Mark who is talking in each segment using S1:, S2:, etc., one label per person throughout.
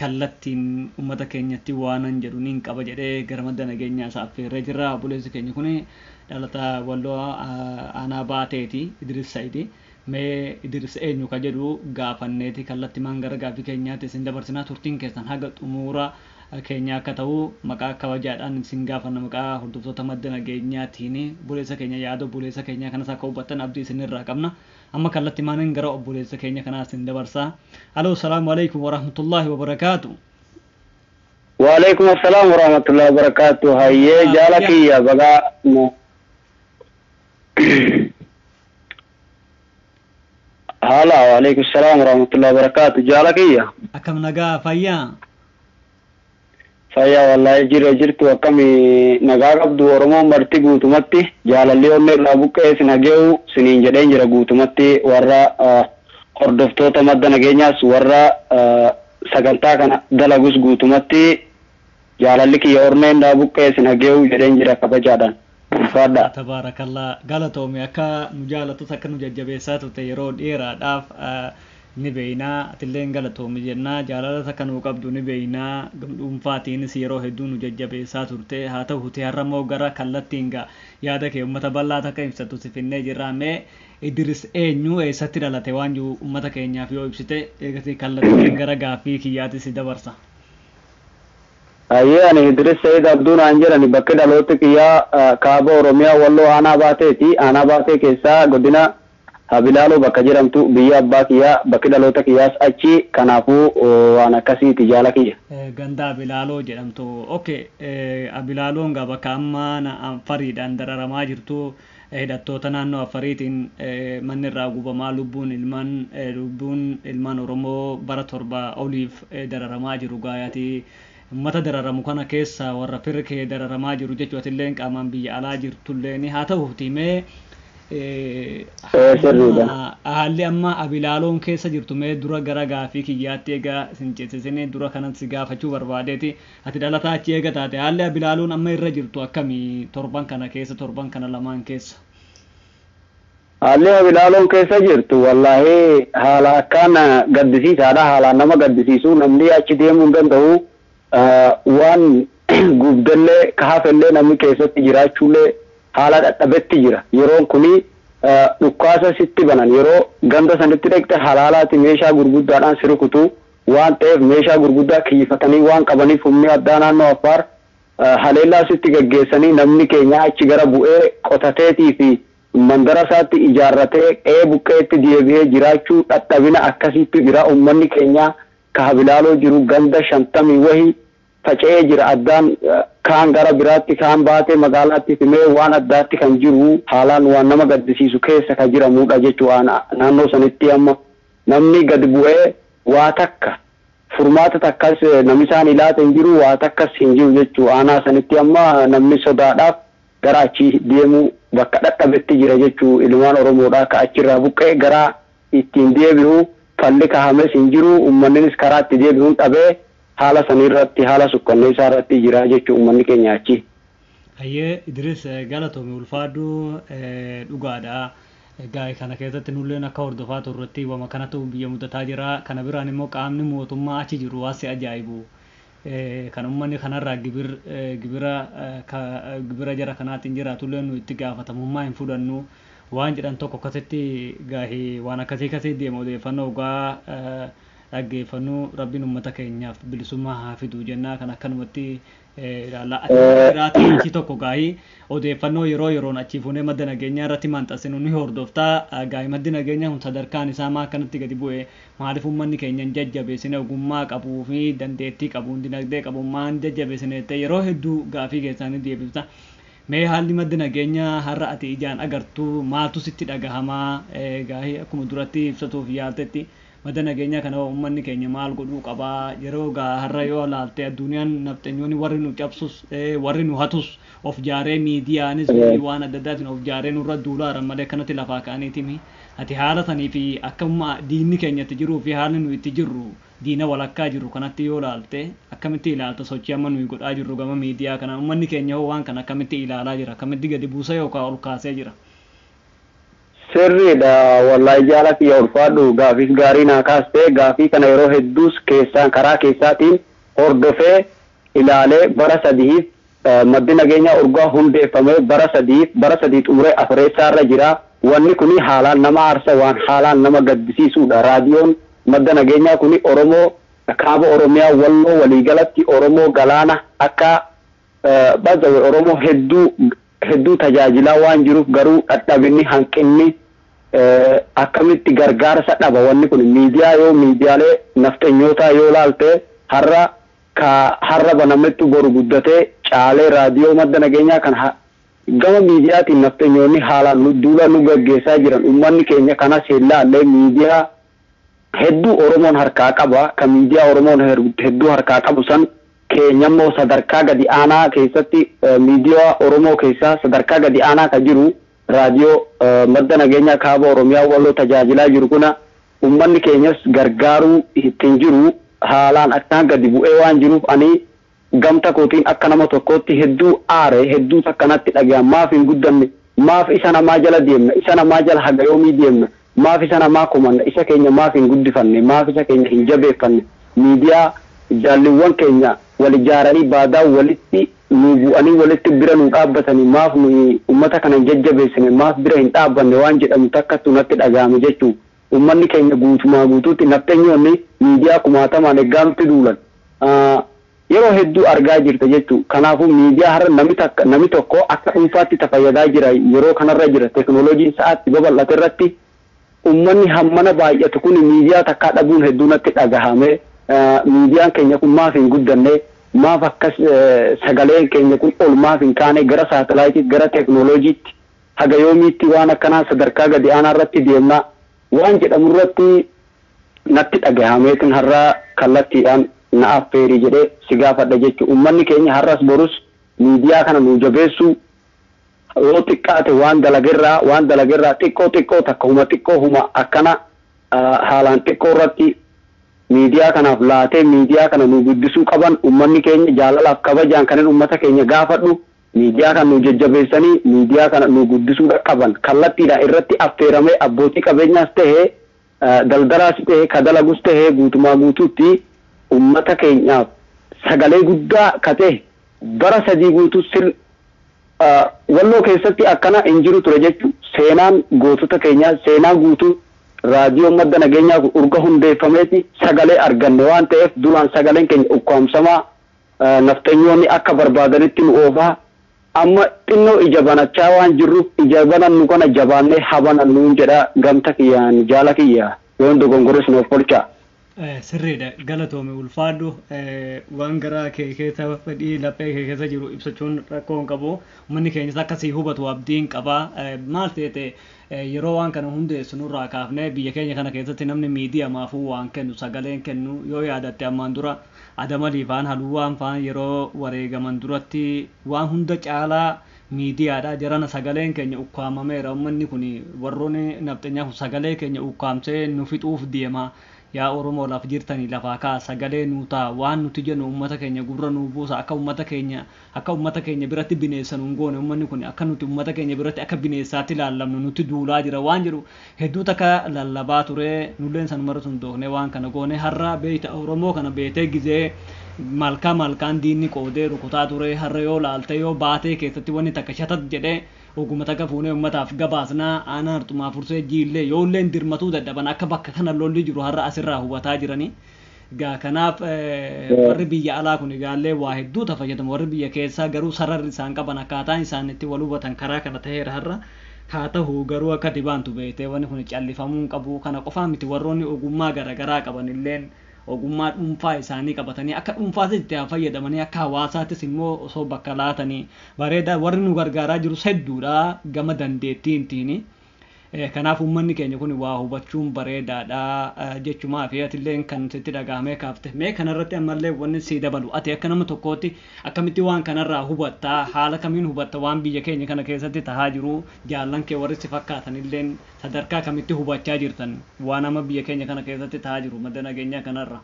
S1: kallattiin ummata keenyatti waanan jedhu niin qaba jedhee gara madda nageenyaa isaa affeerree jirra. Obboleessi keenya kun dhalata Walloo aanaa Baateeti Idiris Sayidi. Mee Idiris eenyu ka jedhu gaafanneeti kallattimaan gara gaaffii keenyaatti isin dabarsina. Turtiin keessan haga xumuura keenyaa akka ta'u maqaa kabajaadhaan isin gaafanna maqaa hordoftoota madda nageenyaatiin. Obboleessa keenya yaada obboleessa keenyaa kanas akka hubattan abdii isinirraa qabna. Amma kallattimaanan gara obboleessa keenya kanaa isin dabarsa. Haloo salaamu aleykum warahmatullaahi wabarakaatu.
S2: Waaleykum assalaam warahmatullahi wabarakatuh hayyee Nagaa jaala fayyaa. kiyya bagaa na- haala waaleykum assalaam warahmatullahi wabarakatuh jaala kiyya Akkam nagaa
S1: fayyaa?
S2: Fayyaa wallaahi jirra jirtu akkami nagaa qabdu oromoon marti guutumatti jaalalli onnee irraa buqqa'ee sin hage'u siniin jedheen jira guutumatti warra hordoftoota madda nageenyaas warra sagantaa kana dalagus guutumatti jaalalli kiyya ornee irraa buqqa'ee sin hage'u jedheen jira kabajaadhaan. Ulfaadhaa. Tabaarakallah
S1: galatoomi akka nu jaalattus akka nu jajjabeessaa turte yeroo dheeraadhaaf ni beeyna atilleen galatoomi jenna jaalalas akka nuu qabdu ni beeyna gam dhuunfaatiinis yeroo hedduu nu jajjabeessaa turte haa tahuti har'a immoo gara kallattiin ga yaada kee ummata bal'aat akka ibsattu si finnee jirra mee Idiris eenyu eessatti dhalate waan jiru ummata keenyaaf yoo ibsite eegasii kallattiin gara gaaffii kiyyaati si dabarsa. Hayyee
S2: ani Hidiris Sa'id Abduu naan jedhani bakki dhalooti kiyyaa kaaba Oromiyaa Walloo Aanaa Baateeti Aanaa Baatee keessaa godina Habilaaloo bakka jedhamtu biyya abbaa kiyyaa bakki dhaloota kiyyaas achi kanaafuu waan akkasiiti jaala kiyya. Ganda Abilaaloo
S1: jedhamtu ok Abilaaloon gaa bakka amma Afariidhaan dararamaa jirtu. Hidhattoota naannoo Affariitiin manni irraa gubamaa lubbuun ilmaan lubbuun ilmaan Oromoo bara 7 oliif dararamaa jiru gaaya ati ummata dararamu kana keessaa warra fir kee dararamaa jiru jechu atilleen qaamaan biyya alaa jirtulleen haa tahuutii mee haalli amma haalli amma abilaaloon keessa jirtu mee dura gara gaafii kiyyaatti egaa sin ceesisinii dura kanan si gaafachuu barbaadeeti Ati dhalataa achi eega taate haalli Abilaaluun amma irra jirtu akkami torban kana keessa torban kana lamaan keessa?
S2: Haalli Abilaaluun keessa jirtu wallaahi haala akkaan gaddisiisaadha. Haalaan nama gaddisiisu namni achi deemuu hin danda'u. Waan gubdellee ka hafellee namni keessatti jiraachuullee haala dhadhabetti jira. Yeroon kuni dhukkaasa sitti banan yeroo ganda sanitti dhaqxe halaalaati meeshaa gurguddaadhaan si rukutu waan ta'eef meeshaa gurguddaa kiyyifatanii waan qabaniif humni addaa naannoo Affaar haleellaa asitti gaggeessanii namni keenya achi gara bu'ee qotateetii fi mandara isaatti ijaarratee qe'ee buqqeetti deebihee jiraachuu dhadhabina akkasiittu jira ummanni keenyaa ka habilaaloo jiru ganda shantamii wahi faca'ee jira addaan kaan gara biraatti kaan baatee magaalaatti simee waan addaatti kan jiru haalaan waan nama gaddisiisu keessa ka jiramuudha jechuu aana naannoo sanitti amma namni gad bu'ee waa takka furmaata takkas namisaan ilaata hin jiru waa takkas hin jiru jechuu aanaa sanitti amma namni sodaadhaaf gara achi deemuu bakka dhadhabetti jira jechuu ilmaan oromoodhaa ka achirraa buqqee garaa ittiin deebi'u falli kahames hin jiru ummanninis karaa itti deebi'uun dhabee Haala sanii irratti haala sukkanneessaa irratti jira jechu ummanni keenya achi. Hayyee
S1: Idiris galatoomi ulfaadhu dhugaadha. Egaa kana keessatti nulleen akka hordofaa turretti wama kanatu biyya mudataa jira. Kana biraan immoo qaamni mootummaa achi jiru waan si ajaa'ibu kan ummanni kanarraa gibir gibira gibira jara kanaatiin jiraatullee nu itti gaafatamummaa hin fudhannu waan jedhan tokko akkasitti gaahee waan akkasii kasii deema odeeffannoo ogaa dhaggeeffannuu rabbiin ummata keenyaaf bilisummaa haa fiduu jennaa kan akkanumatti ilaalla. Ati warra biraatii achii tokko gaahii odeeffannoo yeroo yeroon achii fuunee madda nageenyaa irratti maxxansinu ni hordoftaa gaahii maddi nageenyaa kun sadarkaan isaa maa akkanatti gadi bu'e maaliif ummanni keenya hin jajjabeessine ogummaa qabuu fi dandeettii qabuun dinagdee qabu maa hin jajjabeessine jettee yeroo hedduu gaafii keessaa ni deebifta. Mee haalli madda nageenyaa har'a ati ijaan agartu maaltu sitti dhagahamaa gaahii akkuma duratti ibsatuuf yaaltetti Bada nageenyaa kana hoo ummanni keenya maal godhuu qaba? Yeroo gaa har'a yoo laalte adduuniyaan nafxenyoonni warri nu cabsus, warri nu hatus of jaaree miidiyaanis waan adda addaatiin of jaaree nurra duulaa jiran malee akkanatti lafaa ka'aniiti mii. Ati haala sanii fi akka amma diinni keenya itti jiruu fi haalli nuyi itti jirru diina walakkaa jirru kanatti yoo laalte akkamitti ilaalta sochii amma nuyi godhaa jirru gama miidiyaa kanaan? Ummanni keenya hoo waan kana akkamitti ilaalaa jira? Akkamitti gadi buusee yookaan ol kaasee jira? Sirriidha
S2: wallahi jaala kiyya ulfaadhu gaafiis gaarii naa kaaste gaafii kana yeroo hedduus keessaan karaa keessaatiin hordofee ilaalee bara sadihiif maddi nageenyaa urgaa hundeeffamee bara sadihiif bara sadii xumuree afureessaa irra jira wanni kuni haalaan nama aarsa waan haalaan nama gaddisiisuudha raadiyoon madda nageenyaa kuni oromoo kaaba oromiyaa walloo waliigalatti oromoo galaana akka By the way oromoo hedduu hedduu tajaajilaa waan jiruuf garuu dhadhabinni hanqinni akkamitti gargaarsa dhaba wanni kun miidiyaa yoo miidiyaalee nafxenyootaa yoo laalte har'a ka har'a banamettu boru guddatee caalee raadiyoo madda nageenyaa kan gama miidiyaatiin nafxenyoonni haalaan nu duula nu gaggeessaa jiran ummanni keenya kanas hin laallee miidiyaa hedduu Oromoon harkaa qaba, ka miidiyaa Oromoon hedduu harkaa qabu san keenyammoo sadarkaa gadi aanaa keessatti miidiyaa Oromoo keessaa sadarkaa gadi aanaa ka jiru Raadiyoo Madda Nageenyaa Kaaba Oromiyaa Walloo tajaajilaa jiru kuna ummanni keenyas gargaaruu ittiin jiru haalaan akkaan gadi bu'ee waan jiruuf ani Gamta kootiin akka nama tokkootti hedduu aare, hedduu takka natti dhagayan, maaf hin guddanne, maaf isa namaa jala deemna, isa namaa jala haga yoomii deemna, maaf isa namaa komanna, isa keenya maaf hin guddifanne, maaf isa keenya hin jabeeffanne, miidiyaa jaalliwwan keenya wal ijaaranii baadaan walitti nuu bu'anii walitti bira nuu dhaabbatanii maaf nuyi ummata kana hin jajjabeessine, maaf bira hin dhaabbanne waan jedhamu takkattu natti dhagayame jechuun. Uummanni keenya guutumaa guutuutti nafxenyoonni miidiyaa kumaatamaan eggaa nutti duulan yeroo hedduu argaa jirta jechuun kanaafuu miidiyaa har'a nami takka nami tokko akka dhuunfaatti ta fayyadaa jira yeroo kanarra jira teknolojiin sa'aatti babal'ate irratti uummanni hammana baay'atu kuni miidiyaa takkaa dhabuun hedduu natti dhagahame miidiyaan keenya kun maaf hin guddanne maaf akkas sagaleen keenya kun ol maaf hin kaane gara saatalaayitiitti gara teknolojiitti Haga yoomiitti waan akkanaa sadarkaa gadi aanaa irratti deemna waan jedhamu irratti natti dhagahameetin har'a kallattiidhaan na affeeri jedhee si gaafadha jechu. Ummanni keenya har'as borus miidiyaa kana nuu jabeessuu yoo xiqqaate waan dalagerraa waan dalagerraa xiqqoo xiqqoo takka huma xiqqoo huma akkana haalaan xiqqoo irratti miidiyaa kanaaf laatee miidiyaa kana nuu guddisuu qaban ummanni keenya jaalalaaf kabajaan kanin ummata keenya gaafadhu. Miidiyaa kana nuu jajjabeessanii miidiyaa kana nuu guddisuu dhaqqaban kallattiidhaan irratti affeeramee abbootii qabeenyaas ta'e daldalaas ta'e ka dalagus ta'e guutumaa guutuutti ummata keenyaaf sagalee guddaa ka ta'e bara sadii guutuu sil Walloo keessatti akkana hin jiru ture jechuu seenaan gootota keenyaa seenaa guutuu raadiyoon madda nageenyaa kun urga hundeeffameeti sagalee arganne waan ta'eef duraan sagaleen keenya ukkaamsamaa Nafxanyoonni akka barbaadanitti nu oofaa, amma xinnoo ija banachaa waan jirruuf ija banannu kana jabaannee ha banannuun jedha gamta kiyyaan jaala kiyya yoon dogongores na ofkolchaa. Sirriidha
S1: galatoomi ulfaadhu waan garaa kee keessa fedhii laphee kee keessa jiru ibsachuun rakkoo hin qabu ummanni keenyas akka sii hubatu abdiin qaba maal seete yeroo waan kana hundeessu nurraa kaafne biyya keenya kana keessatti namni miidiyamaafuu waan kennu sagaleen kennu yoo yaadatte ammaan dura Adam Alii faan Haluwaan faan yeroo wareegaman duratti waan hunda caalaa miidiyaadha jarana sagaleen keenya ukkaamameera ummanni kun warrooni nafxenyaa kun sagalee keenya uukkaamsee nu fixuuf deema yaa oromoo laf jirtani lafaa ka'a sagalee nuu ta'a waan nuti jenu ummata keenya gurra nuu buusa akka ummata keenya Akka ummata keenya biratti bineessa nun goone ummanni kun akka nuti ummata keenya biratti akka bineessaatti ilaallamnu nutti duulaa jira waan jedhu hedduu takka lallabaa ture nulleen sanumarratti hundoofnee waan kana goone har'a beeyta oromoo kana beetee gizee malkaa malkaan diinni qoodee rukutaa ture har'a yoo laalte yoo baatee keessatti wanni takka shatat jedhe oguma takka fuunee ummataaf gabaasna aanaa harxumaa fursee jiillee yoolleen dirmatuu dadhaban akka bakka kana lolli jiru har'a asirraa hubataa jiranii Gaa kanaaf warri biyya alaa kun gaallee waa hedduu ta fayyadamu warri biyya keessaa garuu sararri isaan qaban akkaataan isaan itti wal hubatan karaa kana ta'eera har'a haa ta'u garuu akka dibaantu beektee wanni kun callifamuu hin qabu kana qofaa miti warroonni ogummaa garaagaraa qaban illeen ogummaa dhuunfaa isaanii qabatanii akka dhuunfaas itti haa fayyadamanii akka hawaasaattis immoo osoo bakka laatanii bareedaa warri nu gargaaraa jirus hedduudha gama dandeettiintiini. Kanaaf uummanni keenya kun waa hubachuun bareedaadha jechumaafi atilleen kan sitti dhaga'amee kaafte. Mee kanarratti ammallee wanni sii dabalu ati akka nama tokkootti akkamitti waan kanarraa hubatta? Haala kamiin hubatta waan biyya keenya kana keessatti tahaa jiru? Jaallan kee warri si fakkaatanilleen sadarkaa kamitti hubachaa jirtan waan amma biyya keenya kana keessatti tahaa jiru madda nageenyaa kanarra?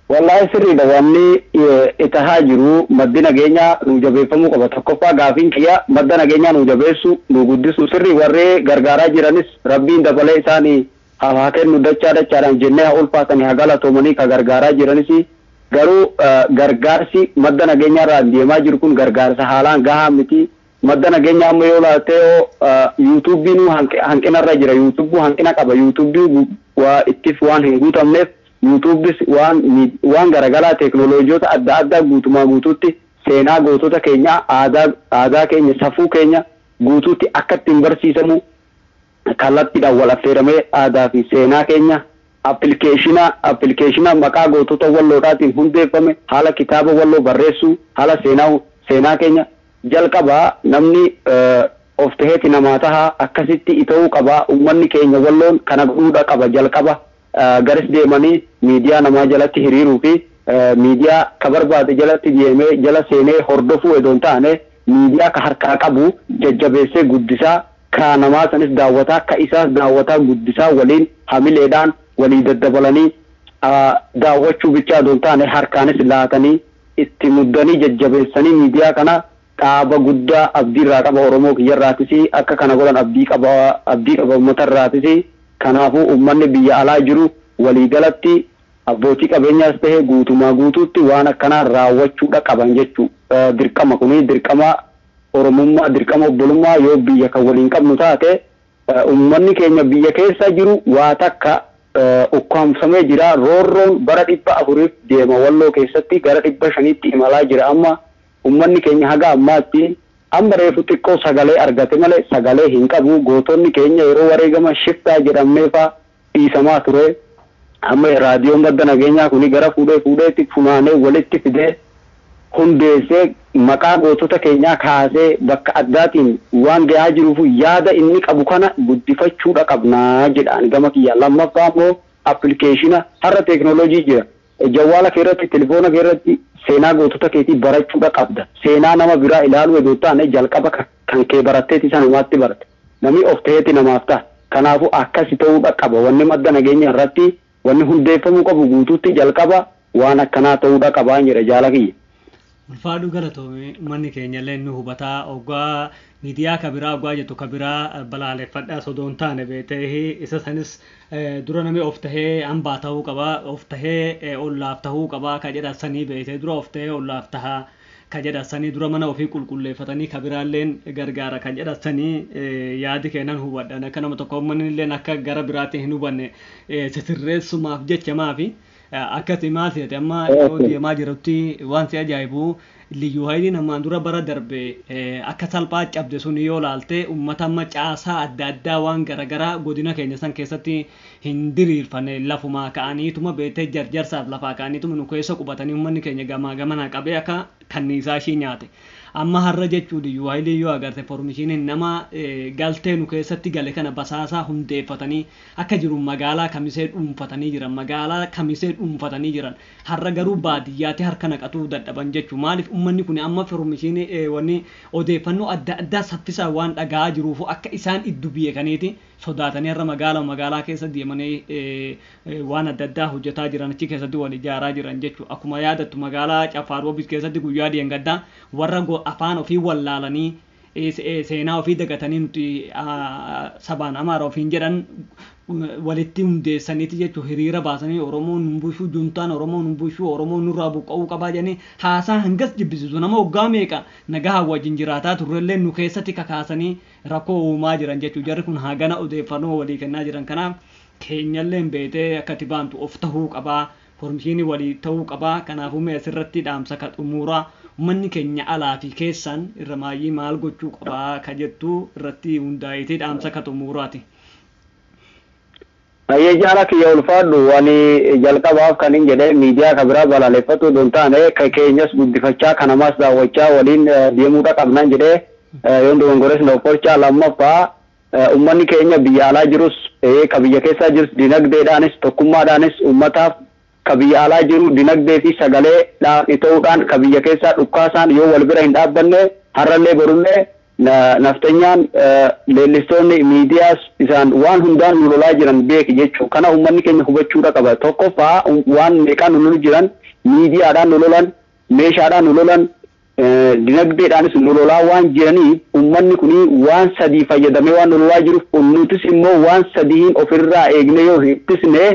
S2: Wallaahi sirriidha wanni tahaa jiru maddi nageenyaa nuu jabeeffamuu qaba tokkoffaa gaafiin kiyya madda nageenyaa nuu jabeessu nuu guddisuu sirri warri gargaaraa jiranis rabbiin dabalee isaani haaf haa kennu dachaa dachaadhaan jennee haa ulfaatani haa galatoomanii ka gargaaraa jiranis garuu gargaarsi madda nageenyaarraan deemaa jiru kun gargaarsa haalaan gahaa miti Madda nageenyaa amma yoo ilaalte yoo yuutuubbii nuu hanqina irra jira yuutuubbuu hanqina qaba yuutuubbii waa ittif waan hin guutamneef yuutuubbis waan waan garagalaa teeknooloojoota adda addaa guutumaa guutuutti seenaa gootota keenyaa aadaa aadaa keenya safuu keenya guutuutti akkatti hin barsiisamuu Kallattiidhaan wal affeeramee aadaa fi seenaa keenya Appilikeeshina Appilikeeshina maqaa gootota Walloodhaatiin hundeeffame haala kitaaba Walloo barreessuu haala seenaa seenaa keenya Jalqaba namni of taheeti namaa taha akkasitti ita'uu qaba ummanni keenya Walloon kana godhuudha qaba jalqaba garis deemanii miidiyaa namaa jalatti hiriiruu fi miidiyaa ka barbaade jalatti deemee jala seenee hordofuu edoo hin taane miidiyaa ka harkaa qabu jajjabeessee guddisaa Ka namaa sanis daawwataa, ka isaas daawwataa guddisaa waliin hamileedhaan walii daddabalanii daawwachuu bichaa odoo hin taane harkaanis laatanii itti muddanii jajjabeessanii miidiyaa kana dhaaba guddaa abdii irraa qaba Oromoo kiyya irraatis akka kana godhan abdii qaba abdii qaba ummata irraatis kanaafuu ummanni biyya alaa jiru walii galatti abbootii qabeenyaas tahe guutumaa guutuutti waan akkanaa raawwachuudha qaban jechuu dirqama kuni dirqama Oromummaa, dirqama obbolummaa yoo biyya kan waliin qabnu taate, ummanni keenya biyya keessa jiru waa takka ukkaamfamee jira, roorroon bara 400f deema Walloo keessatti gara 500tti imalaa jira amma, ummanni keenya haga ammaatti amma reefu xiqqoo sagalee argate malee sagalee hin qabu, gootonni keenya yeroo wareegaman shiftaa jedhamnee faa, dhiisamaa ture. Amma Raadiyoon Madda Nageenyaa kuni gara fuudhee fuudheetti funaanee walitti fidee hundeessee maqaa gootota keenyaa kaasee bakka addaatiin waan gahaa jiruufu yaada inni qabu kana guddifachuudha qabna jedha ani gama kiyyaan. Lammaffaa immoo appilikeeshina har'a teeknooloojii jira. Jawwaala kee irratti, tilifoona kee irratti seenaa gootota keetii barachuudha qabda. Seenaa nama biraa ilaaluu edoo hin taane jalqaba ka kan kee baratteeti sanumaatti barta. Namii of taheeti namaaf taha. Kanaafuu akkasi tahuudha qaba. Wanni madda nageenya irratti wanni hundeeffamuu qabu guutuutti jalqaba waan akkanaa tahuudha qabaan jedha jaala kiyya. Ulfaadhuu
S1: galatoomi ummanni keenyallee ni hubataa oggaa miidiyaa ka biraa oggaa jettu ka biraa balaaleffadha sodoo hin taane beeteehi isa sanis dura namni of tahee hambaa tahuu qaba of tahee ollaaf tahuu qaba ka jedha sanii beetee dura of tahee ollaaf taha ka jedha sanii dura mana ofii qulqulleeffatanii ka biraalleen gargaara ka jedha sanii yaadi keenan hubadhan akka nama tokko ummanni illeen akka gara biraatiin hin hubanne sisirreessumaaf jecha maafi Akka ati maal seete amma yeroo deemaa jirutti waan si ajaa'ibu liyyuu hayiliin ammaan dura bara darbe akka salphaa cabde sun yoo laalte uummata amma caasaa adda addaa waan garaagaraa godina keenya san keessatti hin diriirfane lafumaa ka'aniituma beektee jarjarsaaf lafaa ka'aniituma nu keessa qubatanii uummanni keenya gamaa gamanaa qabee akka kanniisaa ishii nyaate. Amma har'a jechuu liyyuu hayiliin yoo agarte formishiiniin nama galtee nu keessatti gale kana basaasaa hundeeffatanii akka jiru magaalaa kamisee dhuunfatanii jiran magaalaa kamisee dhuunfatanii jiran har'a garuu baadiyyaatti harka naqatuu dadhaban jechu maaliif ummanni kuni amma firomisiini wanni odeeffannoo adda addaa saffisaan waan dhaga'aa jiruufu akka isaan iddu biyeekaniiti sodaatanii har'a magaalama magaalaa keessa deemanii waan adda addaa hojjataa jiran achi keessatti wal ijaaraa jiran jechu akkuma yaadattu magaalaa caffaa roobit keessatti guyyaa deengaddaa warra afaan ofii wallaalanii seenaa ofii dagatanii nuti sabaan amaara ofiin jedhan walitti hundeessaniiti jechuun hiriira baasanii Oromoo nun bulchuu juntaan Oromoo nun bulchuu Oromoo nurraa buqqa'uu qabaa jedhanii haasaa hangas jibbisiisu nama waggaa meeqa nagahaan wajjin jiraataa turrellee nu keessatti kakaasanii rakkoo uumaa jiran jechuun jarri kun hagana odeeffannoo walii kennaa jiran kanaaf keenyalleen beetee akka itti baantu of tahuu qabaa Kormshiini wali ta'uu qaba kanaafu mee asirratti dhaamsa ka xumuura ummanni keenya alaa fi keessaan irramaayyii maal gochuu qaba ka jettu irratti hundaa'eeti dhaamsa ka xumuuraati.
S2: Hayyee Jaara kiyya ulfaadhu. Ani jalqabaaf kanin jedhe miidiyaa ka biraa balaaleffatuu odoo hin taane ka keenyas guddifachaa ka namaas daawwachaa waliin deemuudha qabnaan jedhee yoon dogongores na ofkolchaa lammaffaa Ummanni keenya biyya alaa jirus ta'ee ka biyya keessaa jirus dinagdeedhaanis tokkummaadhaanis ummataaf ka biyya alaa jiru dinagdee fi sagalee dhaan ita'uudhaan ka biyya keessaa dhukkaasaan yoo wal bira hin dhaabbanne harrallee borullee nafxenyaan leellistoonni miidiyaas isaan waan hundaan nu lolaa jiran beeki jechuu kana ummanni keenya hubachuudha qaba tokkoffaa waan meeqaa nu lolu jiran miidiyaadhaan nu lolan meeshaadhaan nu lolan Dinagdeedhaanis nu lolaa waan jiraniif ummanni kun waan sadii fayyadamee waan nu lolaa jiruuf nutis immoo waan sadihiin of irraa eegnee yoo hin ittisne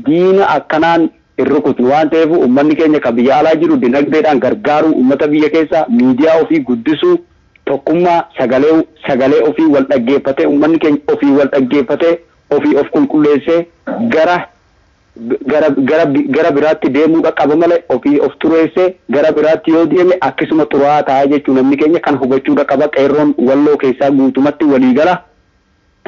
S2: diina akkanaan hin rukutnu waan ta'eef ummanni keenya ka biyya alaa jiru dinagdeedhaan gargaaruu ummata biyya keessaa miidiyaa ofii guddisuu tokkummaa sagalee sagalee ofii wal dhaggeeffatee ummanni keenya ofii wal dhaggeeffatee ofii of qulqulleessee gara gara gara gara biraatti deemuu qaqqaba malee ofii of xureessee gara biraatti yoo deeme akkisuma xuraa'aa taa'aa jechuu namni keenya kana hubachuu qaqqaba qeerroon walloo keessaa guutumatti walii gala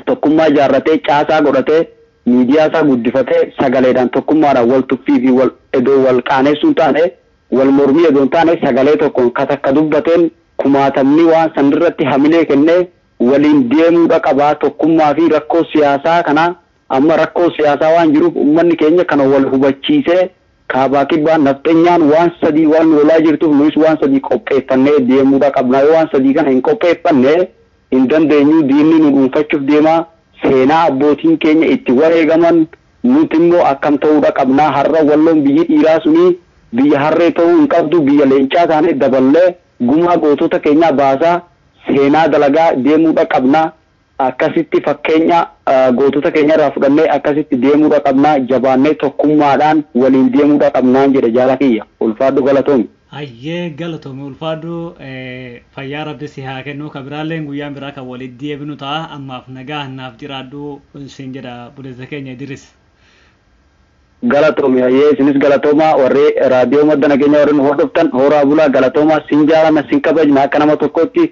S2: tokkummaa ijaarratee caasaa godhatee miidiyaa isaa guddifatee sagaleedhaan tokkummaadhaan wal tuffii fi wal edoo wal qaaneessuun taane wal mormii edoon taane sagalee tokkoon ka takka dubbateen kumaatamni waan sanirratti hamilee kennee waliin deemuu dhaqabaa tokkummaa fi rakkoo siyaasaa kanaa Amma rakkoon siyaasaa waan jiruuf ummanni keenya kana wal hubachiisee kaabaa kibbaan nafxenyaan waan sadii waan nu lolaa jirtuuf nuyis waan sadii qopheeffannee deemuudha qabnaa yoo waan sadii kana hin qopheeffanne hin dandeenyuu diinni nu dhuunfachuuf deemaa seenaa abbootiin keenya itti wareegaman nuti immoo akkam ta'uudha qabnaa har'a walloon biyyi dhiiraa sunii biyya harree ta'uu hin qabdu biyya leencaa taanee daballee gumaa gootota keenyaa baasaa seenaa dalagaa deemuudha qabnaa Akkasitti fakkeenya gootota keenyarraa fudhannee akkasitti deemuudha qabna, jabaannee tokkummaadhaan waliin deemuudha qabnaan jedha jaala kiyya. Ulfaadhu galatoomi. Hayyee galatoomi
S1: ulfaadhu fayyaa rabbi si haa kennu ka biraalleen guyyaan biraa kan walitti deebinu ta'a ammaaf nagaan naaf jiraadhu siin jedha obboleessa keenya Idiris. Galatoomi
S2: hayyee isinis galatoomaa warri raadiyoo madda nageenya warri nu hordoftan hooraa bulaa galatoomaa sin jaalanna sin kabajna akka nama tokkootti